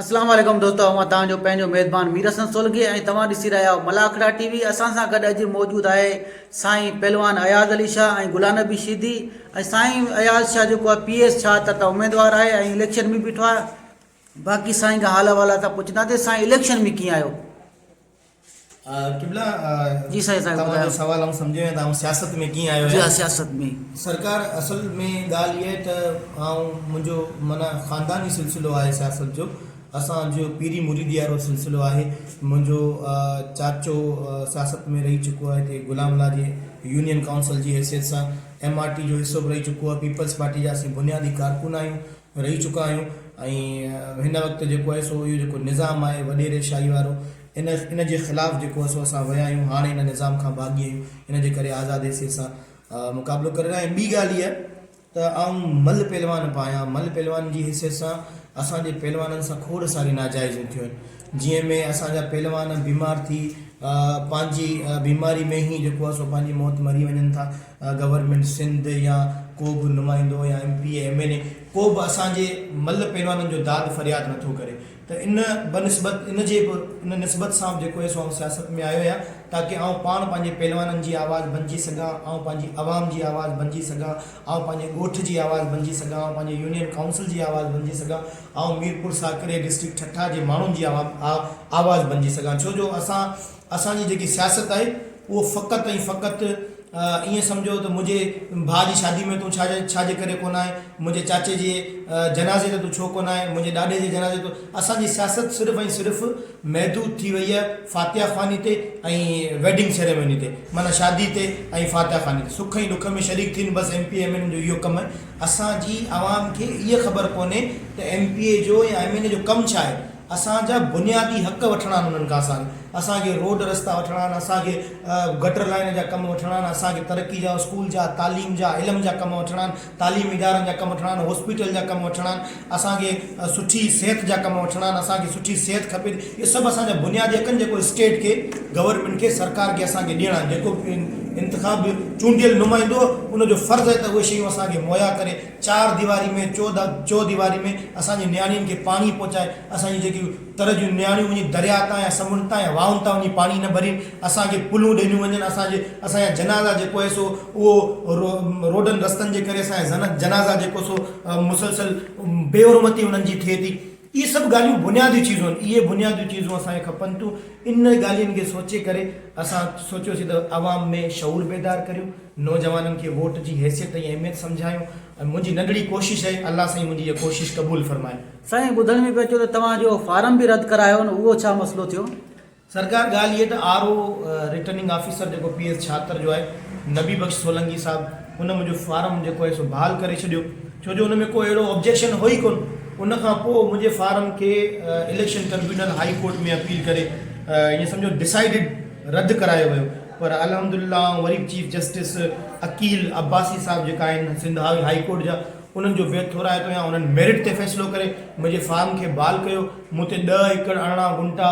اسلام عليڪم دوستو اوهان توهان جو پنهنجو ميزبان مير حسن سولنگي ۽ توهان ڏسي رهيا آهيو ملاکڙا ٽي وي اسان سان گڏ اڄ موجود آهي سائين پهلوان اياز علي شاهه ۽ غلام نبي شيدي ۽ سائين اياز شاهه جيڪو آهي پي ايس ڇا ته اميدوار آهي ۽ اليڪشن ۾ بيٺو آهي باقي سائين کان حال احوال اسان پڇنداسين سائين اليڪشن ۾ ڪيئن آهيو قبلا توهان جو سوال آئون سمجهيو ۽ توهان سياست ۾ ڪيئن آيو آهيان سرڪار اصل ۾ ڳالهه اها ته آئون منهنجو معنيٰ خانداني سلسلو آهي سياست جو اسان جو پيري مريدي وارو سلسلو آهي منهنجو چاچو سياست ۾ رهي چڪو آهي هتي غلام الله جي يونين ڪائونسل جي حيثيت سان ايم آر ٽي جو حصو به رهي چڪو آهي پيپلز پارٽي جا اسين بنيادي ڪارڪن آهيون رهي چڪا آهيون ۽ هن وقت جيڪو آهي سو اهو جيڪو نظام آهي وڏيري شاهي وارو ان ان جي خلاف جيڪو آهي سو اسان ويا آهيون هاڻي ان نظام کان باغي آهيون ان جي ڪري آزادي سي سان مقابلو ڪري رهيا آهيون ٻي ڳالهه اها ته آئون مل پهلوان به آهيان مل پهلوان جي حيثيت سان اسان جي پهلوانن سان کوڙ ساري ناجائزيون ٿيون آهن جنهن ۾ اسان جا پهلوان بيمار ٿي پنهنجي بيماري ۾ هي جيڪو آهي سو پنهنجي موت مري وڃن ٿا گورنمينٽ سنڌ يا ڪو به نمائندو يا M P A M N A ڪو به اسان جي ملهه پهلوانن جو داد فرياد نٿو ڪري ته ان بنسبت ان جي به ان نسبت سان به جيڪو آهي سو آئون سياست ۾ آيو آهيان تاڪي آئون پاڻ پنهنجي پهلوانن جي آواز بنجي سگهان آئون پنهنجي عوام جي آواز بنجي سگهان آئون پنهنجي ڳوٺ جي آواز بنجي سگهان آئون پنهنجي يونين ڪائونسل جي آواز بنجي سگهان آئون ميرپور ساڪري ڊسٽرڪٽ ٺٽا جي ماڻهن جي آواز بنجي سگهان ڇو جو اسان اسان جي جيڪي سياست آهي اهو فقط ۽ فقط ائين سمجهو ته منهنجي ڀاء جي شادي ۾ تون ڇا جي ڇا جي ڪري ڪونه آئين منهنجي چاچي جي جنازي تي تون ڇو ڪونه آئين منهنجي ڏاڏي جي جنازي تون اسان جي سياست صرف ۽ صرف محدود ٿي وئي آهي فاتحه خواني تي ۽ ويڊنگ سيريموني تي معنيٰ شادي تي ۽ فاتحه خواني تي سک ۽ ڏک ۾ شريڪ ٿين بس ايم پي ايم اين جو اهو ڪم آهي اسان جي عوام کي اھا خبر ڪونھي ته ايم پي اي جو يا ايم اين اي جو ڪم ڇا آھي اسان جا بنيادي حق وٺڻا آھن انھن کان اسان کي اسان کي روڊ رستا وٺڻا آھن اسان کي گٽر لائين جا ڪم وٺڻا آھن اسان کي ترقي جا اسڪول جا تعليم جا علم جا ڪم وٺڻا آھن تعليمي ادارن جا ڪم وٺڻا آھن ھاسپيٽل جا ڪم وٺڻا آھن. اسان کي سٺي صحت جا ڪم وٺڻا آهن اسان کي سٺي صحت کپي ٿي اهي سڀ اسان جا بنياد اهي ڪن جيڪو اسٽيٽ کي گورنمينٽ کي سرڪار کي اسان کي ڏيڻا آهن جيڪو به انتخاب جو چونڊيل نمائندو ان جو فرض اهي ته اهي شيون اسان کي مهيا ڪري چار ديواري ۾ چوديواري ۾ اسان جي نياڻين کي پاڻي پهچائي اسان جي جيڪي تر جون نياڻيون وڃي درياء تان يا سمنڊ تان يا واهن تان وڃي پاڻي نه ڀرين، اسان کي پلون ڏنيون وڃن، اسان جي اسان جا جنازا جيڪو آهي سو اهو روڊن رستن جي ڪري اسان جا جنازا جيڪو سو مسلسل بي حرمتي انهن جي ٿئي ٿي. اهي سڀ ڳالهيون بنيادي چيزون آهن، اهي بنياديون چيزون اسان کي کپن ٿيون، ان ڳالهين کي سوچي ڪري اسان سوچيوسين ته عوام ۾ شعور بيدار ڪريون، نوجوانن کي ووٽ جي حيثيت ۽ اهميت سمجهايون ۽ منهنجي ننڍڙي ڪوشش آهي، الله سائين منهنجي اها ڪوشش قبول فرمائي. سائين ٻڌڻ ۾ پيو اچيو ته توهان جو فارم به رد ڪرايو نه اهو ڇا مسئلو ٿيو؟ سرڪار ڳالهه هيء ته آر او رٽرننگ آفيسر جيڪو پي ايس ڇاتر جو آهي نبي بخش سولنگي صاحب ان منهنجو فارم جيڪو آهي سو بحال ڪري ڇڏيو ڇو جو ان ۾ ڪو اهڙو آبجيڪشن هو ئي ڪون ان کان پوء منهنجي فارم کي election tribunal high court ۾ appeal ڪري ائين سمجهو ڊسائيڊڊ رد ڪرايو ويو پر الحمدالله آئون وري به چيف جسٽس عقيل عباسي صاحب جيڪا آهن سنڌ هائي ڪورٽ جا انهن جو ويت ٿورائتو يا انهن ميرٽ تي فيصلو ڪري منهنجي فارم کي بحال ڪيو مون تي ڏهه ايڪڙ ارڙهن گنٽا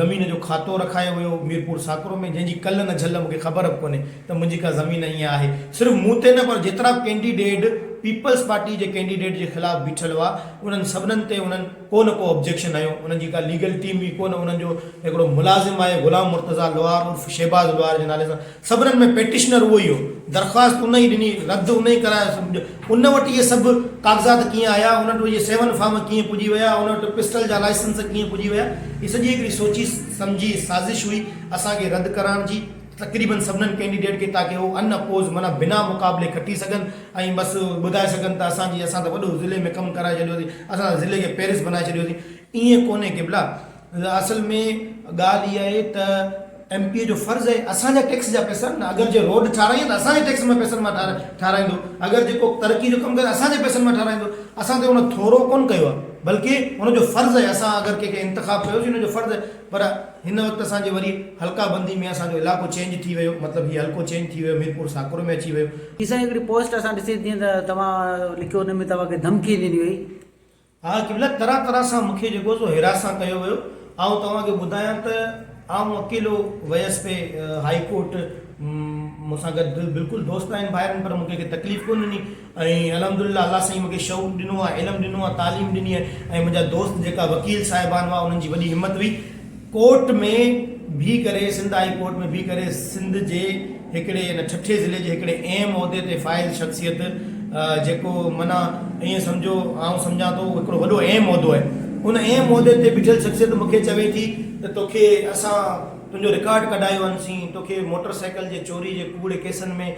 زمين جو کاتو رکايو ويو ميرپور ساڪرو ۾ جنهن جي ڪل نه جهل مون کي خبر به ڪونهي ته منهنجي ڪا زمين ائين آهي صرف مون تي نه پر جيترا ڪينڊيڊيڊ پيپلز پارٽي جي ڪينڊيڊيڊ جي خلاف بيٺل هئا انهن سڀنن تي انهن ڪو نه ڪو ابجيڪشن هنيو انهن جي ڪا ليگل ٽيم ئي ڪونه انهن جو هڪڙو ملازم آهي غلام مرتضيٰ لوهار عرف شهباز لوهار جي نالي سان صبرن ۾ پيٽيشنر اهو ئي هو. درخواست ان ئي ڏني، رد ان ئي ڪرايو سو ان وٽ اهي سڀ ڪاغذات ڪيئن آيا، ان وٽ اهي سيون فارم ڪيئن پڄي ويا، ان وٽ پسٽل جا لائسنس ڪيئن پڄي ويا، هي سڄي هڪڙي سوچي سمجهي سازش هئي اسان کي رد ڪرائڻ جي تقريبن سڀنن ڪينڊيڊيٽ کي تاڪه هو ان اپوز معنيٰ بنا مقابلي کٽي سگهن ۽ بس ٻڌائي سگهن ته اسان جي اسان ته وڏو ضلعي ۾ ڪم ڪرائي ڇڏيوسين، اسان ته ضلعي کي پيرس بنائي ڇڏيوسين. ائين ڪونهي قبلا! اصل ۾ ڳالهه اها آهي ته ايم پي اي جو فرض آهي اسان جا ٽيڪس جا پئسا نه اگر جي روڊ ٺاراهين ته اسان جي ٽيڪس مان پئسن مان ٺاراهيندو اگر جي ڪو ترقي جو ڪم ڪري اسان جي پئسن مان ٺاراهيندو اسان تي ان ٿورو ڪونه ڪيو آهي بلڪه ان جو فرض آهي اسان اگر ڪنهن کي انتخاب ڪيوسين ان جو فرض آهي پر هن وقت اسان جي وري حلقه بندي ۾ اسان جو علائقو چينج ٿي ويو مطلب هي حلقو چينج ٿي ويو ميرپور ساڪرو ۾ اچي ويو. جي سائين هڪڙي پوسٽ اسان ڏسي جيئن ته توهان لکيو ان ۾ توهان کي ڌمڪي ڏني وئي ها قبله طرح طرح سان مون کي جيڪو سو هيراس سان ڪيو ويو آئون توهان کي ٻڌايان ته آئون اڪيلو ويس پئي هائي ڪورٽ مون سان گڏ بلڪل دوست آهن ڀائرن پر مون کي ڪي تڪليف ڪون ڏني ۽ الحمد لله الله سائين مون کي شعور ڏنو آهي علم ڏنو آهي تعليم ڏني آهي ۽ منهنجا دوست جيڪا وڪيل صاحبان هئا انهن جي وڏي همت هئي ڪورٽ ۾ بيھي ڪري سنڌ هائي ڪورٽ ۾ بيھي ڪري سنڌ جي هڪڙي ان ٺٽي ضلعي جي هڪڙي اهم عهدي تي فائز شخصيت جيڪو معنيٰ ائين سمجهو آئون سمجهان ٿو هڪڙو وڏو اهم عهدو آهي ان اهم عهدي تي بيٺل شخصيت مون کي چوي ٿي ته توکي اسان تنهنجو رڪارڊ ڪڍايو هنسين توکي موٽر سائيڪل جي چوري جي ڪوڙي ڪيسن ۾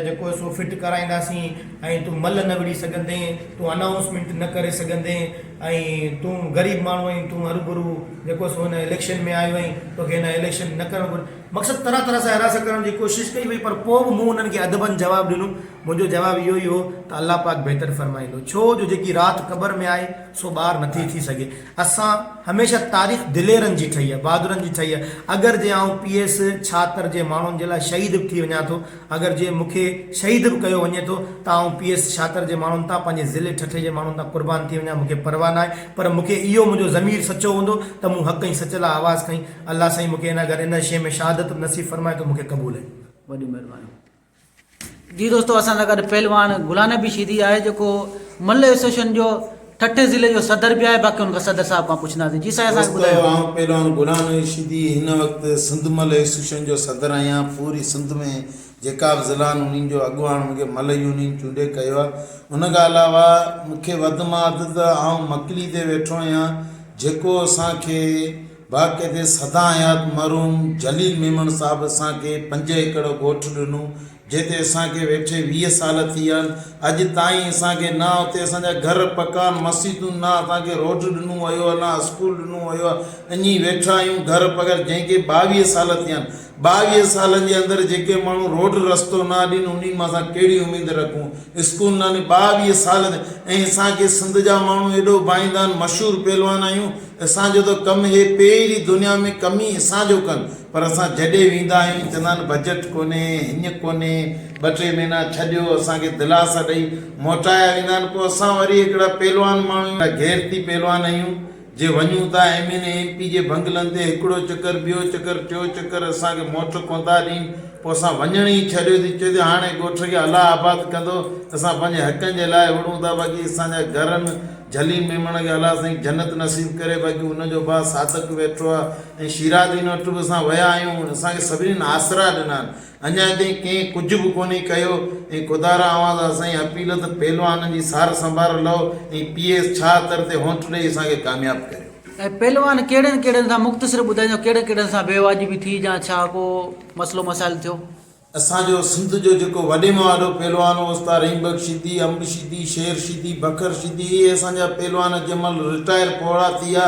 جيڪو سو فٽ ڪرائينداسين ۽ تون ملهه نه وڙهي سگهندين، تون انائونسمينٽ نه ڪري سگهندين ۽ تون غريب ماڻهو آهين، تون هربرو جيڪو سو هن اليڪشن ۾ آيو آهين، توکي هن اليڪشن نه ڪرڻ گهرجي. مقصد طرح طرح سان هراس ڪرڻ جي ڪوشش ڪئي وئي پر پوء به مون انهن کي ادبن جواب ڏنو. منهنجو جواب اهو ئي هو ته الله پاڪ بهتر فرمائيندو ڇو جو جيڪي رات قبر ۾ آهي سو ٻاهر نٿي ٿي سگهي. اسان هميشه تاريخ دليرن جي ٺهي آهي، بهادرن جي ٺهي آهي. اگر جي آئون پي ايس ڇاتر جي ماڻهن جي لاء شهيد به ٿي وڃان ٿو، اگر جي مون کي شهيد به ڪيو وڃي ٿو ته آئون پي ايس ڇاتر جي ماڻهن تان، پنهنجي ضلعي ٺٽي جي ماڻهن تان قربان ٿي وڃان، مون کي پرواهه ناهي. پر مون کي اهو منهنجو ضمير سچو هوندو ته مون حق ۽ سچ لاء آواز کنئي. الله سائين مون کي ان گهر ان شيء ۾ شهادت به نصيب فرمائي ٿو مون کي قبول آهي. وڏيون مهربانيون. جي دوستو اسان سان گڏ پهلوان غلام نبي شيدي آهي جيڪو ملهه ايسوسيئيشن جو ٺٽي ضلعي جو صدر به آهي باقي ان کان صدر صاحب کان پڇنداسين جي سائين اسان کي ٻڌايو. دوستو آئون پهلوان غلام نبي شيدي هن وقت سنڌ ملهه ايسوسيئيشن جو صدر آهيان پوري سنڌ ۾ جيڪا به ضلعا آهن انهن جو اڳواڻ مون کي ملهه يونين چونڊي ڪيو آهي ان کان علاوه مون کي وڌ مان وڌ ته آئون مڪلي تي ويٺو آهيان جيڪو اسان کي واقعي تي سدا حيات مرحوم جليل ميمڻ صاحب اسان کي پنج ايڪڙ ڳوٺ ڏنو جنهن تي اسان کي ويٺي ويهه سال ٿي ويا آهن اڄ تائين اسان کي نه اتي اسان جا گهر پڪا آهن مسيتون نه اسان کي روڊ ڏنو ويو آهي نه اسڪول ڏنو ويو آهي اڃي ويٺا آهيون گهر بغير جنهن کي ٻاويهه سال ٿيا آهن ٻاويهه سالن جي اندر جيڪي ماڻهو روڊ رستو نه اڏين انهن مان اسان ڪهڙي اميد رکون اسڪول نه اڏين ٻاويهه سال ٿيا ۽ اسان کي سنڌ جا ماڻهو ايڏو ڀائيندا آهن مشهور پهلوان آهيون اسان جو ته ڪم هي پيري دنيا ۾ ڪم ئي اسان جو ڪن پر اسان جڏهن ويندا آهيون چوندا آهن بجيٽ ڪونهي هينئن ڪونهي ٻه ٽي مهينا ڇڏيو اسان کي دلاسا ڏئي موٽايا ويندا آهن پوء اسان وري هڪڙا پهلوان ماڻهو آهيون غيرتي پهلوان آهيون جي وڃون ٿا M N A M P جي بنگلن تي هڪڙو چڪر ٻيو چڪر ٽيو چڪر اسان کي موٽر ڪونٿا ڏين پو اسان وڃڻ ئي ڇڏيو ٿي چوي ٿي هاڻي ڳوٺ کي الله آباد ڪندو اسان پنهنجي حقن جي لاء وڙهون ٿا باقي اسان جا گهرن جھلي ميمڻ کي الله سائين جنت نصيب ڪري باقي ان جو ڀاء صادق ويٺو آ ۽ شيرادين وٽ به اسان ويا آهيون اسان کي سڀنين آسرا ڏنا آهن اڃا تائين ڪنهن ڪجهه به ڪونهي ڪيو ۽ ڪوڌارا اوهان سان اسان جي اپيل ته پهلوان جي سار سنڀار لئو ۽ پي ايس ڇاهه تر تي هونٺ ڏئي اسان کي ڪامياب ڪريو. ۽ پهلوان ڪهڙن ڪهڙن سان مختصر ٻڌائيندو ڪهڙن ڪهڙن سان بي واجبي ٿي جا ڇا ڪو مسئلو مسائل ٿيو. اسان جو سنڌ جو جيڪو وڏي مان وڏو پهلوان هو استاد رحيم بخش شيدي، انب شيدي، شير شيدي، بکر شيدي اهي اسان جا پهلوان جنهن مهل رٽائر پوڙها ٿي ويا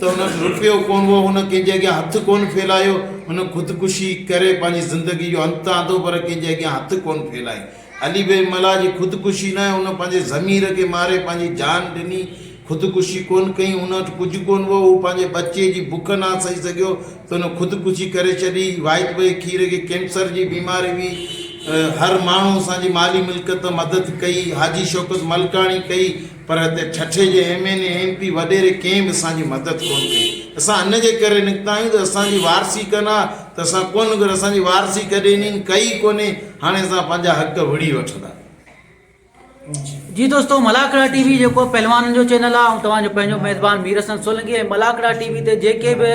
ته هن وٽ روپيو ڪونه هو، هن ڪنهن جي اڳيان هٿ ڪونه ڦيلايو، هن خودڪشي ڪري پنهنجي زندگي جو انت آندو پر ڪنهن جي اڳيان هٿ ڪونه ڦيلايائين. علي بيگ ملاح جي خودڪشي نه هن پنهنجي ضمير کي ماري پنهنجي جان ڏني، خودڪشي ڪونه ڪيائين، هن وٽ ڪجهه ڪونه هو، هو پنهنجي ٻچي جي بک نه سهي سگهيو ته هن خودڪشي ڪري ڇڏي، واحد ڀئي کير کي ڪينسر جي بيماري هئي، هر ماڻهو اسان جي مالي ملڪيت مدد ڪئي، حاجي شوڪت ملڪاڻي ڪئي، پر هتي ٺٽي جي M N A M P وڏيري ڪنهن به اسان جي مدد ڪونه ڪئي اسان ان جي ڪري نڪتا آهيون ته اسان جي وارثي ڪن ها ته اسان ڪونه ڪري اسان جي وارثي ڪڏهن انهن ڪئي ئي ڪونهي هاڻي اسان پنهنجا حق وڙهي وٺندا. جي دوستو ملاکڙا ٽي وي جيڪو پهلوانن جو چينل آهي آئون توهان جو پنهنجو ميزبان مير حسن سولنگي ۽ ملاکڙا ٽي وي تي جيڪي به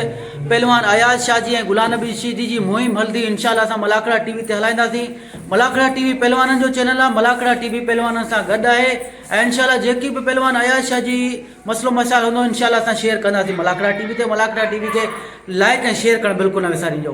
پهلوان اياز شاھ جي ۽ غلام نبي شيدي جي مهم هلندي انشاء الله اسان ملاکڙا ٽي وي تي هلائينداسين ملاکڙا ٽي وي پهلوانن جو چينل آهي ملاکڙا ٽي وي پهلوانن سان گڏ آهي ۽ انشاء الله جيڪي به پهلوان اياز شاھ جي مسئلو مسائل هوندو انشاء الله اسان شيئر ڪنداسين ملاکڙا ٽي وي تي ملاکڙا ٽي وي کي لائڪ ۽ شيئر ڪرڻ بلڪل نه وسارينجو.